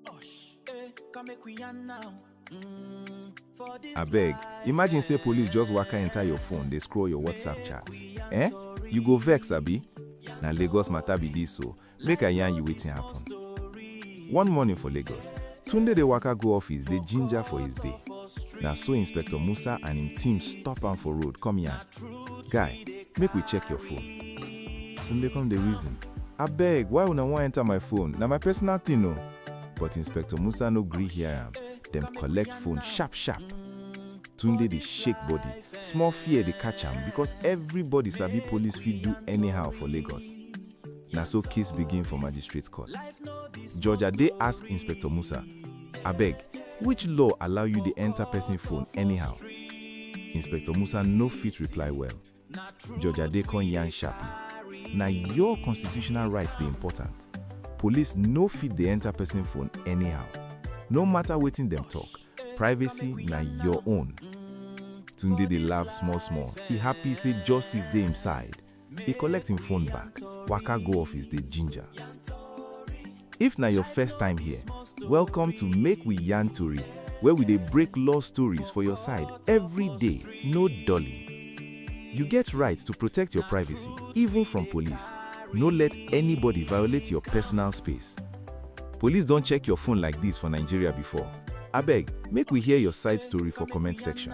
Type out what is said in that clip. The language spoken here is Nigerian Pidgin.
Osh, eh, come make we yarn now. Mm, for this Abeg, life, imagine say eh, police just waka enter your phone dey scroll your WhatsApp make chat. we yarn Eh? story, You go vex abi? yarn Na Lagos matter be this o. Make I yarn you wetin happen. story. One morning for Lagos, Tunde dey waka go office dey ginger for his day. Na so Inspector Musa and him team stop am for road come yarn. Guy, make we check your phone. Some dey come dey reason. Abeg, why una wan enter my phone? Na my personal thing o. But Inspector Musa no gree hear am. Dem collect phone sharp sharp. Tunde dey shake body. Small fear dey catch am because everybody sabi police fit do anyhow for Lagos. Na so case begin for magistrate court. Judge Ade ask Inspector Musa, Abeg, which law allow you dey enter person phone anyhow? Inspector Musa no fit reply well. Judge Ade come yarn sharply, Na your constitutional right dey important. Police no fit dey enter person phone anyhow. No matter wetin dem talk, privacy na your own. Tunde dey laugh small small, e happy say justice dey im side. E collect him phone back, waka go office dey ginger. If na your first time here, welcome to Make We Yarn Tori where we dey break law stories for your side every day, no dulling. You get right to protect your privacy even from police, no let anybody violate your personal space. Police don check your phone like this for Nigeria before? Abeg make we hear your side story for comment section.